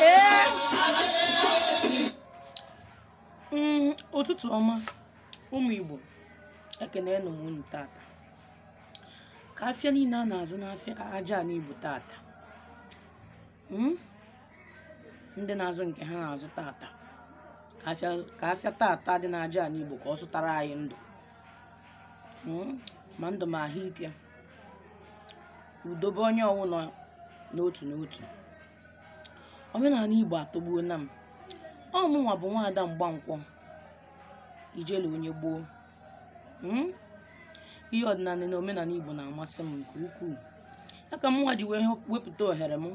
Ee. Mm, ụtụtụ ọma ụmụ igbo ekene nụ m unu tata ka afịa niile a na-azụ n'afịa aja anị igbo tata Hmm? ndị na-azụ nke ha na-azụ tata ka afịa tata dị n'aja ala igbo ka ọ zụtara anyị ndụ hmm? ma ndụ ma ahụike udo be onye ọwụna n'otu n'otu omenala igbo atọgbuona m ọ mụnwa bụ nwaada mgbankwọ ijele onye gboo Mm? ihe ọdịnala na omenala igbo na-amasị m nke ukwuu ya ka mụnwa ji wee wepụta ohere m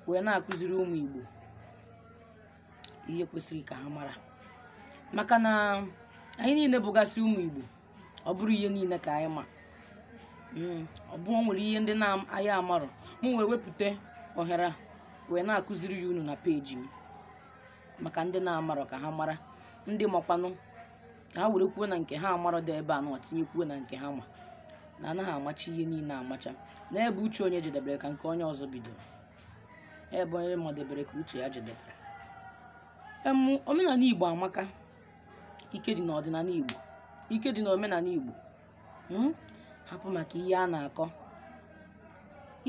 wee na-akụziri ụmụ igbo ihe kwesịrị ka ha mara maka na anyị niile bụgasị ụmụ igbo ọ bụrọ ihe niile ka anyị ma Mm, ọ bụ o nwere ihe ndị na anyị amarọ mụ wee wepụta ohere a wee na-akụziri ya unu na peji m maka ndị na-amarọ ka ha mara ndị makwanụ ka ha werekwuo na nke ha amarọ dị ebe a nọ tinyekwuo na nke ha ma na anaghị amacha ihe niile amacha na ebe uche onye jedebere ka nke onye ọzọ bidoro ebe onye madebere ka uche ya jedebere em omenala igbo amaka ike dị n'ọdịnala igbo ike dị n'omenala igbo mm? hapụ maka ihe a na-akọ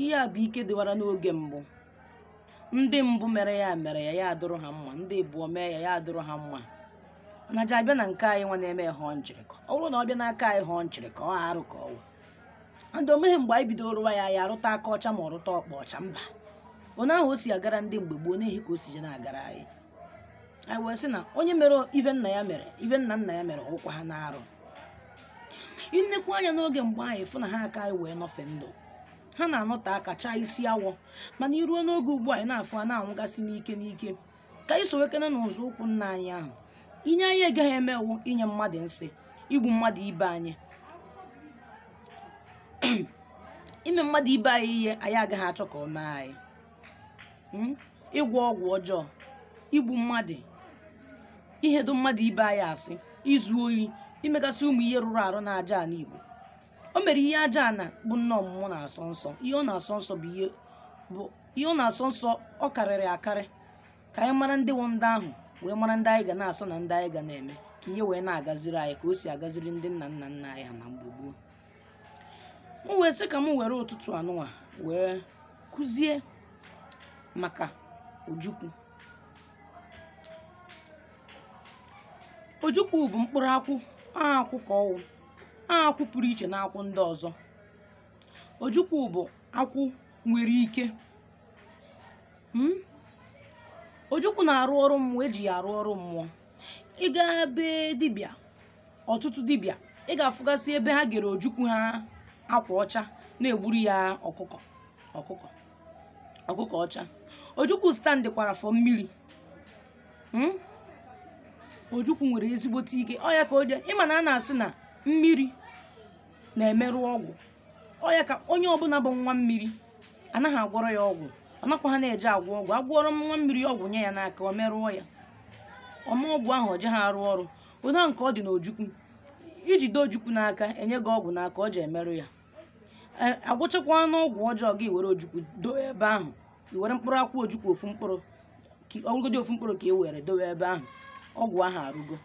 ihe a bụ ike dịwara n'oge mbụ ndị mbụ mere ya mere ya ya adụrụ ha mma ndị abụọ mee ya ya adụrụ ha mma na ji abịa na nke anyịnwa na-eme ya họọ nchịrịkọ ọ bụrụ na ọ bịa n'aka anyị họọ nchịrịkọ ọ arụ ka ọ wụ ndị omeghe mgbe anyị bidoro rụwa ya ya arụta aka ọcha ma ọ rụta ọkpa ọcha mba onye ahụ o si agara ndị mgbe gboo n'ehi ka o si je na-agara anyị anyị wee sị na onye mere ibe nna ya mere ibe nna nna ya mere ọ kwa ha na-arụ nnekwu anya n'oge mgbe anyị fụ na ha aka anyị wee nọfe ndụ ha na-anọte aka chaa isi awọ mana i ruo n'oge ugbu a anyị na-afụ a na-anwụgasị n'ike n'ike ka anyị sowekene nzọ ụkwụ nna anyị ahụ ihe anyị agaghị eme wụ inye mmadụ nsị igbu mmadụ ibe anyị ime mmadụ ibe anyị ihe anyị agaghị achọ ka o mee anyị Mm? ịgwọ ọgwụ ọjọọ igbu mmadụ ihedo mmadụ ibe anyị asị izu oyi imegasị ụmụ ihe rụrụ arụ n'aja anị igbo o nwere ihe Ajana bụ nne ọmụmụ na-asọ nsọ ihe ọ na-asọ nsọ bụ ihe bụ ihe ọ na-asọ nsọ ọ karịrị akarị ka anyị mara ndị wụ ndị ahụ wee mara ndị anyị ga na-asọ na ndị anyị ga na-eme ka ihe wee na-agaziri anyị ka o si agaziri ndị nna nna nna anyị ha na mgbe gboo m wee sị ka m were ụtụtụ anụnwa wee kụzie maka ojukwu ojukwu bụ mkpụrụ akwụ akwụ ka ọ wụ akwụ pụrụ iche na akwụ ndị ọzọ ojukwu bụ akwụ nwere ike hmm? ojukwu na-arụ ọrụ mmụọ e ji ya arụ ọrụ mmụọ ị gaa be dibịa ọtụtụ dibịa ị ga-afụgasị ebe ha gere ojukwu ha akwa ọcha na-egburu ya ọkụkọ ọcha ojukwu standịkwara for mmiri Hmm? ojukwu nwere ezigbote ike ọ ya ka o ji ị ma na a na-asị na mmiri na-emerụ ọgwụ ọ ya ka onye ọbụla bụ nwa mmiri anaghị agwọrọ ya ọgwụ ọ nakwaha na-eje agwọ ọgwụ a gwọrọ nwa mmiri ọgwụ nye ya n'aka o merụọ ya ọ ma ọgwụ ahụ o jeha arụ ọrụ onye ahụ nke ọ dị n'ojukwu i jide ojukwu n'aka e nye gị ọgwụ n'aka o ji emerụ ya a gwọchakwanụ ọgwụ ọjọọ gị were ojukwu dowe ebe ahụ i were mkpụrụ akwụ ojukwu ofu mkpụrụ ọ wụgodi ofu mkpụrụ ka e were dowe ebe ahụ ọgwụ ahụ arụgo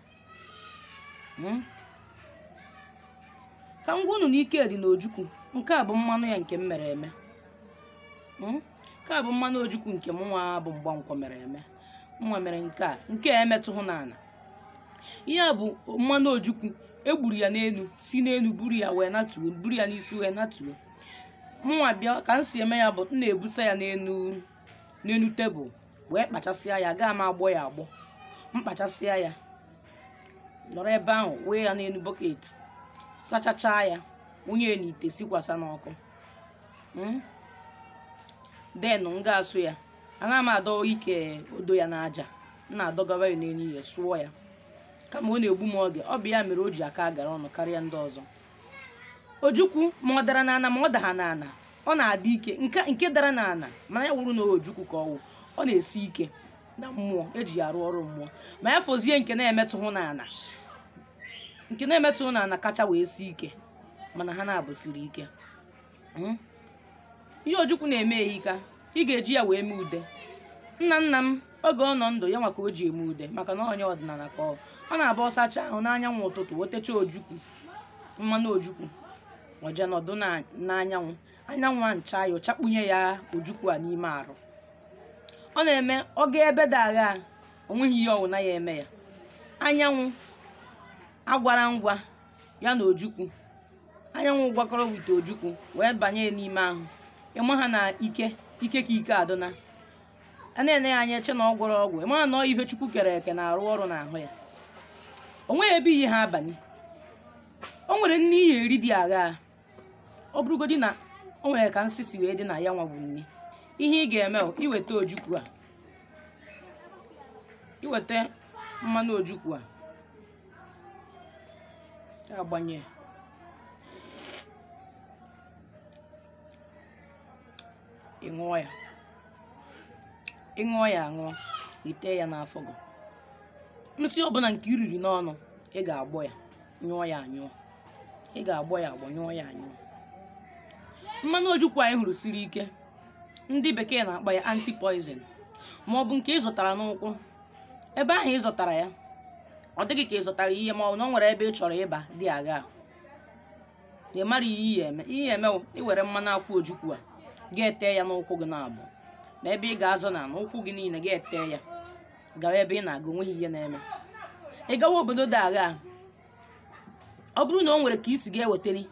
hmm? ka m gwa unu na ike dị n'ojukwu nke a bụ mmanụ ya nke m mere eme hmm? nke a bụ mmanụ ojukwu nke m nwa bụ Mgbankwọ mere eme m nwa mere nke a nke a emetụhụ n'ala ihe a bụ mmanụ ojukwu e gburu ya n'elu si n'elu buru ya wee natuo buru ya n'isi wee natuo mụnwa bịa ka m si eme ya bụ m na-ebusa ya n'elu n'elu tebụl wee kpachasịa ya gaa m agbọ ya agbọ m kpachasịa ya nọrọ ebe ahụ wee ya n'elu bọket sachachaa ya wụnye ya n'ite sikwasa n'ọkụ then m ga-asụ ya anaghị m adọ ike odo ya n'aja m na-adọgara ya n'elu ihe sụọ ya kama ọ na-egbu m oge ọ bụ ya mere o ji aka agara ọnụ karịa ndị ọzọ ojukwu ma ọ dara n'ana ma ọ daha n'ana ọ na-adị ike nke dara n'ana mana ya wụrụ na ojukwu ka ọ wụ ọ na-esi ike na mmụọ e ji ya arụ ọrụ mmụọ ma ya fọzie nke na-emetụhụ n'ana nke na-emetụhụ n'ana kacha wee sie ike mana ha naabọ siri ike Hmm? ihe ojukwu na-eme ehika ị ga-eji ya wee mee ude nna nna m oge ọ nọ ndụ ya nwa ka o ji eme ude maka na onye ọdịnala ka ọ ọ na-abụ ọ sachaa ahụ n'anyanwụ ụtụtụ o techaa ojukwu mmanụ ojukwu o je nọdụ na- n'anyanwụ anyanwụ ana-acha ya ọ chakpunye ya ojukwu a n'ime arụ ọ na-eme ọ gaa ebe dị agha o nweghị ihe ọwụna ya-eme ya anyanwụ agwara ngwa ya na ojukwu anyanwụ gwakọrọ with ojukwu wee banye n'ime ahụ ịma ha na ike ike ka ike adịna a na-ene ya anya eche na ọ gwọrọ ọgwụ ịma na ọ ihe chukwu kere eke na-arụ ọrụ n'ahụ ya o nweghị ebe iyi ha abanye o nwere nni ị ya-eri dị aghaa ọ bụrụgodị na o nwere ka nsị si wee dị na ya nwa bụ nni ihe ị ga-eme bụ iweta ojukwu a iweta mmanụ ojukwu a agbanye ị ṅụọ ya ị ṅụọ ya aṅụọ i tee ya n'afọ gị nsị ọbụla nke i riri n'ọnụ ị ga-agbọ ya nyụọ ya anyụọ ị ga-agbọ ya agbọ nyụọ ya anyụọ mmanụ ojukwu anyị hụrụ siri ike ndị bekee na-akpọ ya anti-poison ma ọ bụ nke ị zọtara n'ụkwụ ebe ahụ ị zọtara ya ọ dị gị ka ị zọtara ihe ma ọ bụ na ọ nwere ebe ị chọrọ ịba dị aghaa ị mara ihe ị ya-eme ihe eme wụ iwere mmanụ akwụ ojukwu a ga-ete ya n'ụkwụ gị naabọ ma ebe ị ga-azọ na n'ụkwụ gị niile ga-ete ya gawa ebe ị na-aga onweghị ihe na-eme ị gawa obodo dị aghaa ọ bụrụ na ọ nwere ka i si ga-ewetali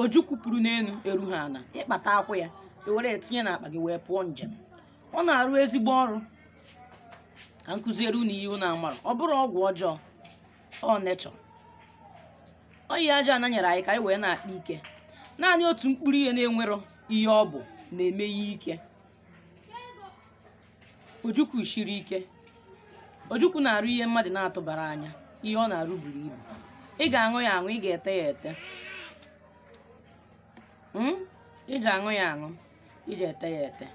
ojukwu pụrụ n'elu eru ha ana ị kpata akwụ ya i were etinye n'akpa gị wee pụọ njem ọ na-arụ ezigbo ọrụ ka m kuziere unu ihe unu amara ọ bụrụ ọgwụ ọjọọ ọ na-achụ ọ ihe aja ana nyere anyị ka anyị wee na-akpa ike naanị otu mkpụrụ ihe na-enwero ihe ọ bụ na-eme ya ike ojukwu shiri ike ojukwu na-arụ ihe mmadụ na-atụbara anya ihe ọ na-arụ buru ibu ị ga-aṅụ ya aṅụ ị ga-ete ya ete Mm? ị ga-aṅụ ya aṅụ iji ete ya ete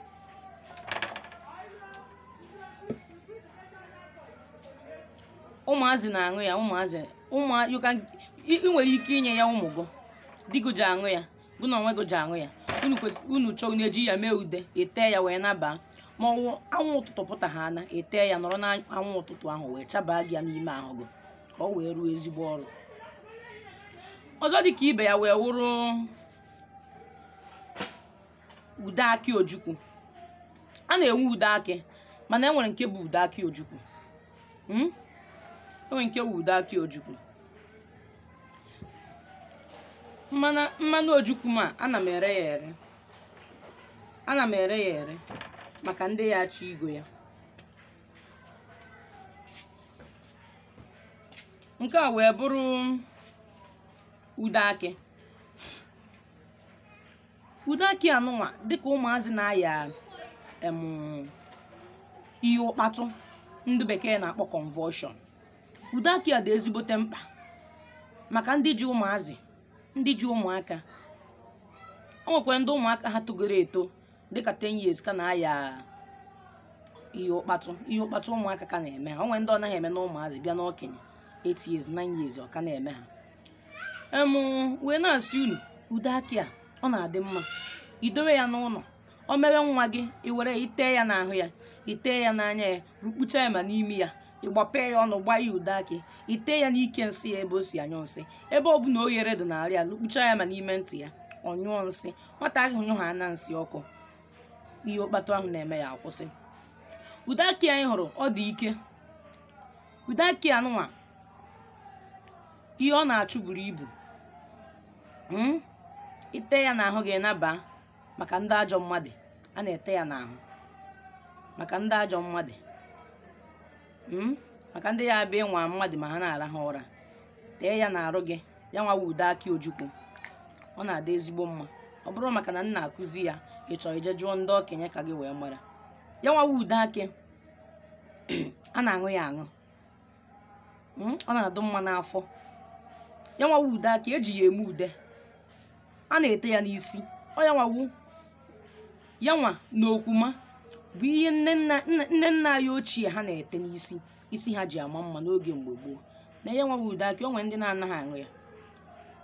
ụmụazị na-aṅụ ya ụmụazị ụmụ you can ị ị nwere ike inye ya ụmụ gị di gị ji aṅụ ya gị na onwe gị ji aṅụ ya unu kwes- unu chọrọ na-eji ya mee ude etee ya wee nabaa ma ọ wụ anwụ ụtụtụ pụta ha ana etee ya nọrọ n'anwụ ụtụtụ ahụ wee chabaa gị ya n'ime ahụ gị ka ọ wee rụọ ezigbo ọrụ ọzọ dị ka ibe ya wee wụrụ ude akị ojukwu a na-enwe ude akị mana enwere nke bụ ude akị ojukwu Hmm? enwere nke bụ ude akị ojukwu mmanụ mmanụ ojukwu ma ana m ere ya ere ana m ere ya ere maka ndị ya-achọ igo ya nke a wee bụrụ ude akị ude akị anụnwa dịka ụmụazị na-aya em ihe ụkpatụ ndị bekee na-akpọ convulsion ude akị a dị ezigbote mkpa maka ndị ji ụmụazị ndị ji ụmụaka o nwekwara ndị ụmụaka ha togoro eto dịka 10 years ka na-aya ihe ụkpatụ ihe ụkpatụ ụmụaka ka na-eme ha o nwere ndị ọ naghị eme na ụmụazị bịa n'okenye 8 years 9 years ọ ka na-eme ha em wee na-asị unu ude akị a ọ na-adị mma idowe ya n'ụlọ o mewe nwa gị i were i tee ya n'ahụ ya i tee ya n'anya ya rukpucha ya ma n'imi ya ị gbapee ya ọnụ gbaa ya ude akị i tee ya n'ike nsị ya ebe o si anyụ nsị ebe ọ bụla oghere dị n'arụ ya rukpucha ya ma n'ime ntị ya ọ nyụọ nsị nwata ahụ nyụ ha na nsị ọkụ ihe ụkpatụ ahụ na-eme ya akwụsị ude akị a ị hụrụ ọ dị ike ude akị anụnwa ihe ọ na-achụ buru ibu Mm? i tee ya n'ahụ gị naba maka ndị ajọ mmadụ a na-ete ya n'ahụ maka ndị ajọ mmadụ Mm? maka ndị ya abịa ịnwa mmadụ ma ha na-arahụ ụra tee ya n'arụ gị ya nwa wụ ude akị ojukwu ọ na-adị ezigbo mma ọ bụrọ maka na m na-akụzi ya ị chọọ i jee jụọ ndị okenye ka gị wee mara ya nwa wụ ude akị a na-aṅụ ya aṅụ Mm, ọ na-adụ mma n'afọ ya nwa wụ ude akị e ji ya eme ude a na-ete ya n'isi ọ ya nwa wụ ya nwa na okwuma bụ ihe nne nna nne nna anyị ochie ha na-ete n'isi isi ha ji ama mma n'oge mgbe gboo na ya nwa wụ ude akị o nwere ndị na-anaghị aṅụ ya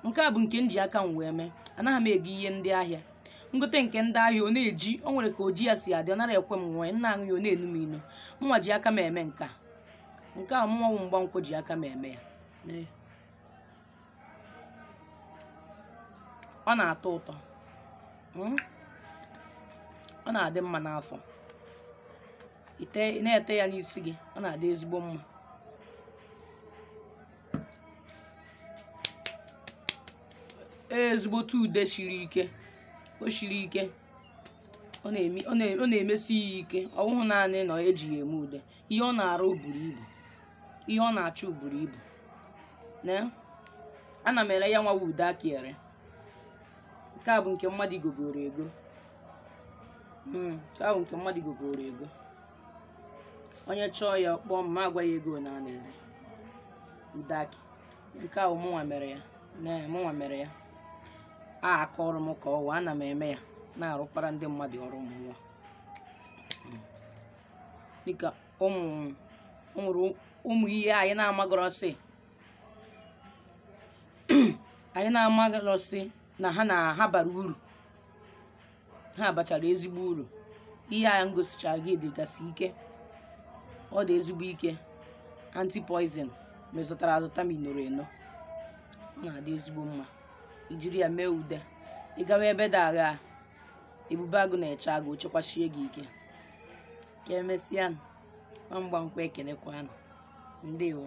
nke a bụ nke m ji aka m wee mee anaghị m ego ihe ndị ahịa m gote nke ndị ahịa ọ na-eji o nwere ka oji ya si adị ọ nara ekwe m wee na-aṅụ ya ọ na-enu m inu mụnwa ji aka m eme nke a nke a mụnwa wụ Mgbankwọ ji aka m eme ya Ee. ọ na-atọ ụtọ Mm. ọ na-adị mma n'afọ ite ị na-ete ya n'isi gị ọ na-adị ezigbo mma ezigbote ude siri ike o siri ike ọ na-eme- ọ na- ọ na-emesi ya ike ọ bụghị naanị na e ji ya eme ude ihe ọ na-arụ buru ibu ihe ọ na-achụ buru ibu na ana m ere ya nwa wụ ude akị ere nke a bụ nke mmadụ gogoro ego Mm, nke a wụ nke mmadụ gogoro ego onye chọọ ya ọ kpọọ m m agwa ya ego na a na-ere ude akị nke a wụ mụnwa mere ya na mụnwa mere ya aka ọrụ m ka ọ wụ ana m eme ya na-arụkwara ndị mmadụ ọrụ ụmụ nwa Mm. dịka ụmụ o nwere ụmụ ihe anyị na-amagọrọ sị anyị na-amagọrọ sị na ha na ha bara uru ha bachara ezigbo uru ihe a ngosichara gị dịgasị ike ọ dị ezigbo ike antipoison ma ị zụtara azụta ma i noro eno ọ na-adị ezigbo mma i jiri ya mee ude ị gawa ebe dị agha ebube agụ na-eche agụ o chekwachie gị ike ka emesịa nụ. Nwa mgba nkwa ekenekwa nụ. ndewo